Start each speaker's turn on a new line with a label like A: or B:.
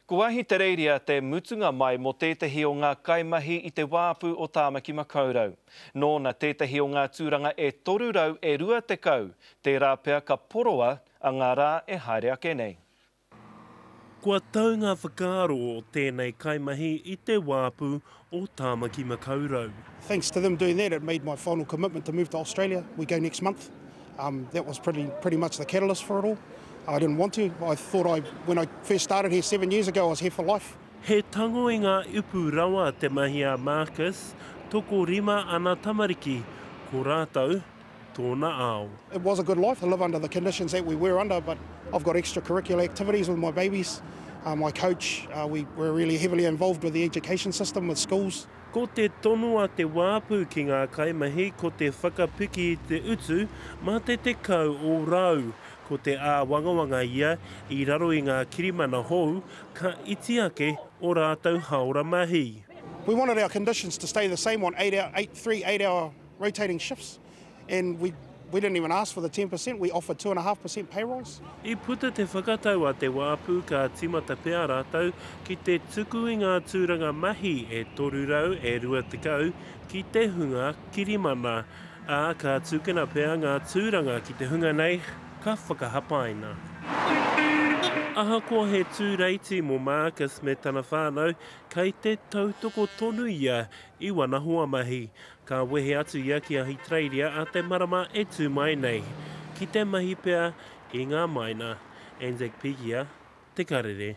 A: Ko Ahitereiria te mutunga mai mō tētehi o ngā kaimahi i te wāpu o Tāmaki Makaurau. Nōna tētehi o ngā tūranga e 320, tērā pea ka poroa a ngā rā e haere ake nei.
B: Kua tau ngā whakaaro o tēnei kaimahi i te wāpu o Tāmaki Makaurau. Thanks to them doing
C: that, it made my final commitment to move to Australia. We go next month. Um, that was pretty, pretty much the catalyst for it all. I didn't want to. I thought I, when I first started here seven years ago, I was here for life. He tango i ngā
B: upu rawa te mahi a Marcus, tokorima ana tamariki, ko rātou, tōna ao. It was a good life to
C: live under the conditions that we were under but I've got extra curricular activities with my babies, my coach, we were really heavily involved with the education system with schools. Ko te tono
B: a Te Wāpu ki ngā kaimahi ko te whakapiki i te utu mā te tekau ōrau. Ko te āwangawanga ia i raro i ngā kirimana hou ka iti ake ō rātou haora mahi. We wanted our
C: conditions to stay the same on eight, three eight hour rotating shifts and we we didn't even ask for the 10% we offered 2.5% pay rise. I puta te
B: whakatau a Te Wāpu ka tīmata pea rātou ki te tuku i ngā tūranga mahi e 300 e 20 ki te hunga kirimana, ā, ka tūkena pea ngā tūranga ki te hunga nei ka whakahapaina. Ahakoa he tūreiti mō Marcus me tana whānau, kei te tautoko tonu ia i wana hoamahi. Ka wehe atu ia ki Ahitereiria a te marama e tū mai nei, ki te mahi pea i ngā maina, Anzacpegia, te karere.